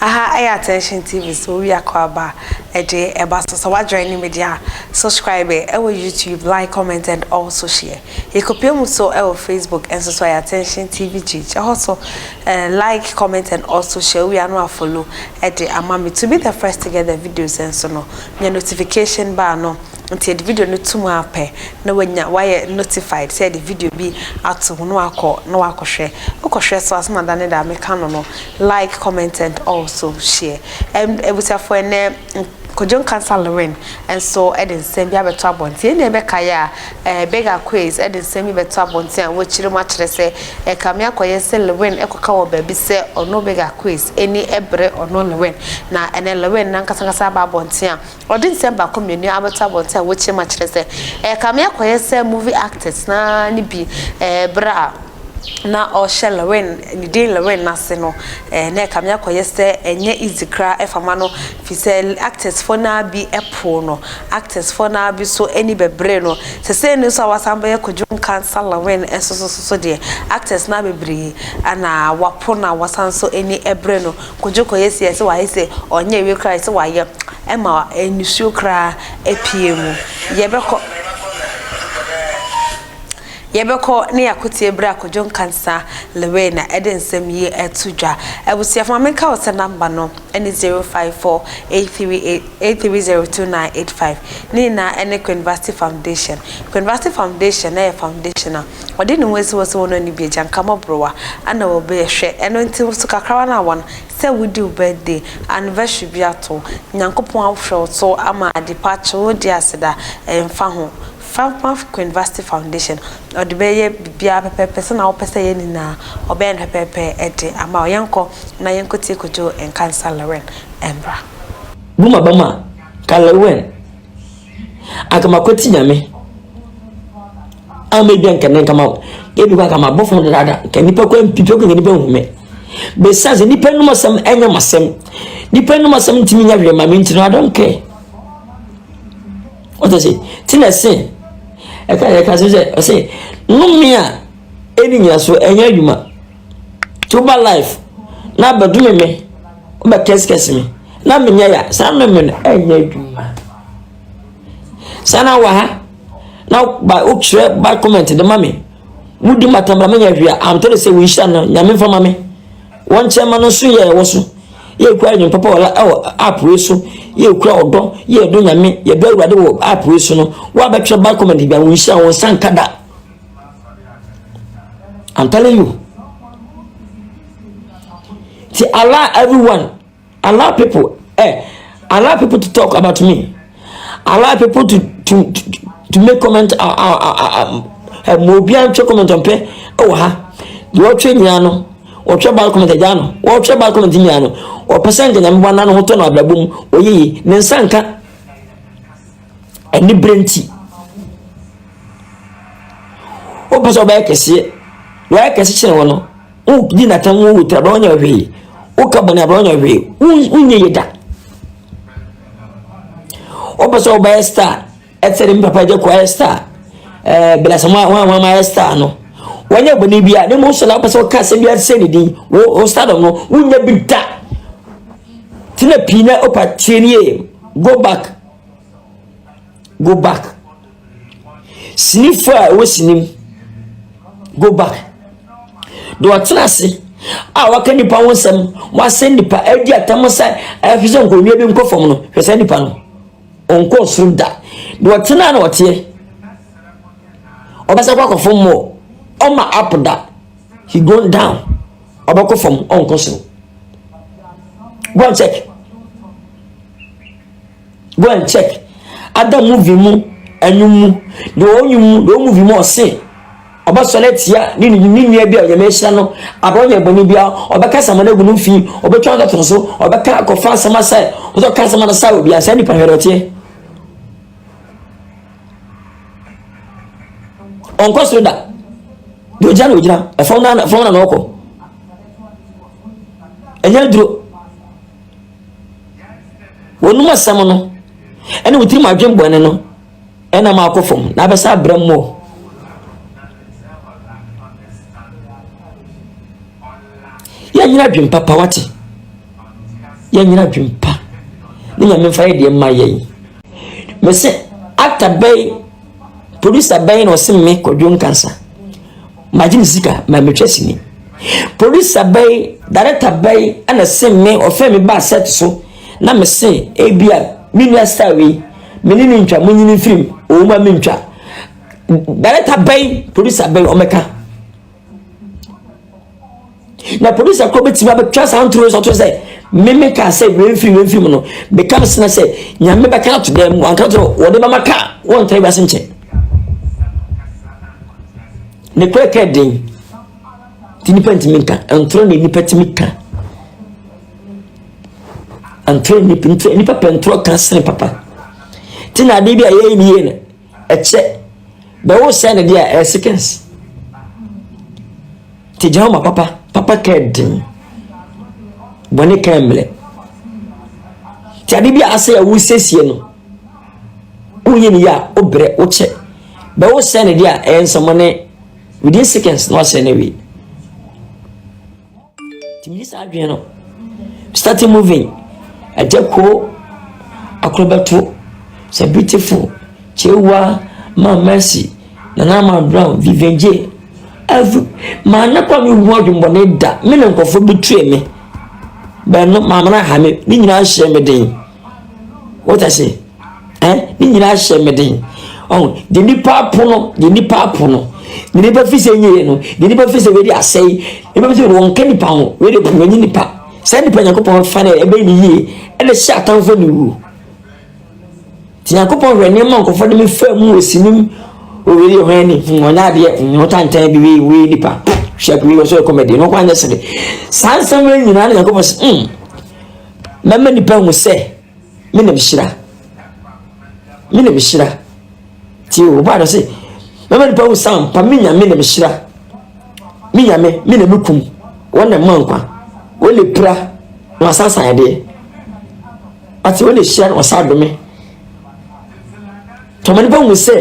Aha ɛyɛ Attention TV so owi akɔaba ɛde ɛba so sɛ wadwɛn ne media subscribe ɛwɔ YouTube like comment and also share yɛkɔpia mu so ɛwɔ Facebook ɛnso so ɛyɛ Attention TV page ɛhɔ so uh, like comment and also share owi ano afolo ɛde ama me to be the first to get the videos ɛnso no Nya notification bar no nti yɛde video no to mu ara pɛ na wanya wayɛ notified sɛ yɛde video bi ato mu na wakɔ na wakɔ hwɛ wokɔ hwɛ so asɛm ada ne da meka no no like comment and also share ɛm abusuafo ɛnɛ Kojo Nkansah Lewin nso ɛde nsɛm bi abɛto abɔnten ɛnna ɛbɛka yɛ a Beggar Quays de nsɛm yi bɛto abɔnten a wɔakyerɛ mu akyerɛ sɛ ɛkame akɔyɛ sɛ Lewin kɔka wɔ baabi sɛ ɔno Beggar Quays ani bere ɔno Lewin, na ɛnnɛ Lewin no ankasa ankasa aba abɔnten a ɔde nsɛm baako mmienu abɛto abɔnten a wɔakyerɛ mu akyerɛ sɛ ɛkame akɔyɛ sɛ movie actors no ara ne bi bere a na ɔhyɛ Lorraine, ne din Lorraine no ase no, eh, na ɛkame akɔyɛ sɛ ɛnyɛ easy koraa ɛfa ma no, fi sɛ actorsfoɔ no ara bi ɛpoo no, actorsfoɔ no ara bi so ani bɛbree no. Sesei no nso a wasan bɛyɛ Kojo Nkansah Lorraine nso so so so deɛ, actors no ara bebree ana wapo no a wasan nso ani ɛbree no. Kojo kɔyɛ si ɛsɛ wayɛ sɛ ɔnyɛ awie koraa ɛsɛ wayɛ, ɛma nisuo koraa ɛpue mu. Yɛbɛkɔ. Yɛbɛkɔ na yɛakotie bere a Kojo Nkansah Lewena de nsɛm yi reto dwa. Abusuafo, ma menka wo sɛ namba no ne 054838302985. Ne nyinaa ne Quinvasty Foundation. Quinvasty Foundation yɛ foundation a wɔde ne ho asi hɔ sɛ wɔn ani bi agyanka mmɔborowa na wɔbɛhwɛ. Ɛno nti wo so kakrawa no a wɔn sɛ wodi wo birthday anniversary bi ato, Nyankopɔn ahwɛ wo so ama ade pa, kyewodie aseda, ɛmfa ho. Falmouth Queenvasty Foundation, ɔde bɛyɛ biribiara pɛpɛɛpɛ sɛnea wopɛ sɛ ɛyɛ nyinaa, ɔbɛyɛ no pɛpɛɛpɛ de ama wo. Yɛnkɔ na yɛnkɔtie Kojo Nkansah Lewin mmra. Bu m'abam a, ka Lewin, anka makwati Nyame a m'adwa nkɛnɛ nka ma wo. Ebi kɔ anka mabɔ fam dadaada, nka nnipa kɔ mpipi kɔ nka nnipa nhu me. Bɛsiane sɛ nnipa nnum asɛm ɛnyɛ m'asɛm, nnipa nnum asɛm ntumi nyɛ hwee ma me nti no, I don't care. Ɔte se, te na se, ɛka yɛ ka sɛ ɔse nome a ɛni nyinaso ɛnyɛ adwuma to ba life na abɛdome me wobɛ kɛsekɛse me na menyɛ ya saa nome no ɛnyɛ adwuma saa na waha na ba wokyerɛ ba comment de ma me Mudi mmata ma manya hwee a, amtɔ ne sɛ wo nhyira no Nyame mfa ma me. Wɔn kyɛ ma no nso yɛ ɛwɔ so. Yɛ kura adwene papa wɔ ɛwɔ app wei so. Yɛ kura ɔdɔ, yɛ ɛdɔ Nyame, yɛ dɔ awurade wɔ app wei so no. Wo a bɛtwerɛ bad comment bia, wo nhyira wɔn nsa nka da. I'm telling you. Ti allow everyone. a lot of people eh a lot of people to talk about me a lot of people to to to make comment a a a a ɛmu obiara ntwe comment ɔmpɛ ɛwɔ ha deɛ ɔtwe nyinaa no ɔtwe bad comment agya no ɔtwe bad comment nyinaa no ɔpɛ sɛ nka nyame bɔ n'ano ho tɔ no abrabɔ mu ɔyɛ yi ne nsa nka ɛne bere nti wopɛ sɛ ɔbɛyɛ kɛseɛ wɔyɛ kɛse kyerɛ wɔn no. Wogye n'atam wo wotiri abira ɔnyɛ hwee. Woka bɔne abira ɔnyɛ hwee. Wonyɛ yɛ da. Wopɛ sɛ wobɛyɛ star ɛsɛ de me papa gye kɔ ayɛ star ɛɛ bilasam a wɔn a wɔn ayɛ star no wɔnyɛ bɔne bi a ne mu sɔla wopɛ sɛ woka asɛm bi asɛ ne din wo wo stardom no wonyɛ bi da tena pii na wopa tie ne yie go back. Go back. Sinifo a ɛwɔ sini mu. Go back. Deɛ ɔtena ase a waka nipa ho nsɛm wasɛ nipa adi atam sɛ ɛhwɛ sɛ nkonnwa bi nkɔ fam no hwɛ sɛ nipa no ɔnkɔ soro da deɛ ɔtena na ɔteɛ ɔbɛsɛ kɔ akɔ fam mɔ ɔma up da he go down ɔbɛkɔ fam ɔnkɔ soro go and check. go and check ada movie mu ɛnwom mu deɛ ɔwɔ nwom mu deɛ ɔwɔ movie mu ɔse ɔbɛsɔre atia ne ne ne nua bi a ɔnyame ahyira no abɔ ɔnyɛ bɔne bia ɔbɛka sama no agu no mfii ɔbɛtwa ntɔtɔn so ɔbɛka akɔfa asɛm asae ɔsɛ ɔka asɛm no sae obi asɛ nipa hwɛrɛ ɔteɛ ɔnkɔ soro da deɛ ɔgyina na ɔgyina ɛfam na na ɔkɔ ɛnyɛ duro wɔnom asɛm no ɛne wo tirim adwen bɔne no ɛna ma akɔ fam na abɛsa abrɛ mmɔ yɛnyina adwen papa wate yɛnyina adwen pa ne nyame mfa yɛ deɛ mma yɛn mese actor bɛn producer bɛn na ɔse me kɔdwo nkansa Magye me sika ma metwa sini. Producer bɛn, director bɛn na ɛsen me, ɔfrɛ me baa set so na mese ebia me nua star wei, me ne no ntwa, monyi no mfiri mu, owu ma mentwa. Director bɛn, producer bɛn ɔmmɛka. na polisi akoro bɛtumi abɛtwa saa ntoro nsa to sɛ meme kaa sɛ wemfiri wemfiri mu no bɛka me sena sɛ nyame bɛka ato dɛm mu anka to wɔde bɛma ka wɔntra wiase nkyɛ ne korɛ ka den nti nipa ntumi nka ntoro na nipa tumi ka ntoro nipa pɛ ntoro ka sene papa ti na adeɛ bi a yɛyɛ ne yie no Ɛkyɛ, bɛ wo sɛɛ na deɛ a ɛyɛ seconds. Te gyina ma papa, papa kɛ den. Bɔne kɛ mmerɛ. Te ade bi a asɛ yɛ wo sɛsie no, wonyɛ ne yɛ a, wo berɛ, wo kyɛ. Bɛ wo sɛɛ na deɛ a ɛyɛ nsɛmɔne within seconds na wasɛɛ na wie. Nti mede saa adwene no started moving ɛgya kuo akorobɛto sɛ beautiful kyewa ma mercy nana ma brown vivian j every maa ne kɔ me hu adwumbɔne da me ne nkɔfo bi tue me bɛno maame no aha me ne nyinaa hyɛ me den wata se eh, ne nyinaa hyɛ me den ɔho de nipa apono de nipa apono de nipa fi sɛ nyie no de nipa fi sɛ wei de asɛe nipa fi sɛ wɔn nka nipa ho wei de wɔn nye nipa saa nipa nyankopɔn fa no ɛbɛyɛ ne yie ɛna hyɛ atamfo ne wuo nti nyankopɔn hwɛ nneɛma nkɔfɔ de me fa mu wɔ sinim oweri ɔhɔn ani ɔnyɛ adeɛ ɔnyɛ tantan bi wei wei nipa hwɛ wei ɔsɛ kɔmɛdi no kwan nyɛ sere saa nsɛm wei nyinaa ne nyankopɔn sɛ mm Mɛma nnipa ahu sɛ me na mehyira. Me na mehyira. Tie o, ɔbaa no se, mɛma nnipa ahu sɛ ampa me nyame na mehyira. Me nyame, me na mekum, wɔn na mma nkwa. Wɔn na pira na wasansan adeɛ. Ate wɔn na hyira na wɔsa adome. Tɔma nnipa ahu sɛ,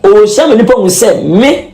ɔhyira ma nnipa ahu sɛ me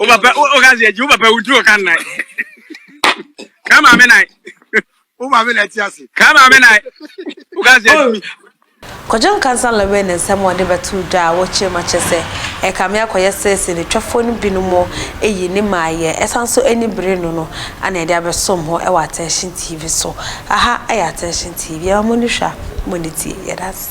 Wo papa, wo ka sɛ agyi, wo papa wutu ɔka nnan. Ka maame nan. Wo maame na ɛte ase. Ka maame nan. Wo ka sɛ agyi. Kwadwo Nkansah Laway ne nsɛm a ɔde bɛtoo dwa a wɔkyerɛ mu akyerɛ sɛ ɛrekame akɔyɛ sɛ sinitwafoɔ no binom ayi ne mmaeɛ ɛsan nso ani bere no no na yɛde abɛsom ho wɔ Attention TV so. Aha yɛ Attention TV, yɛma mo ani hwɛ a, mo ani tie. Yɛda ase.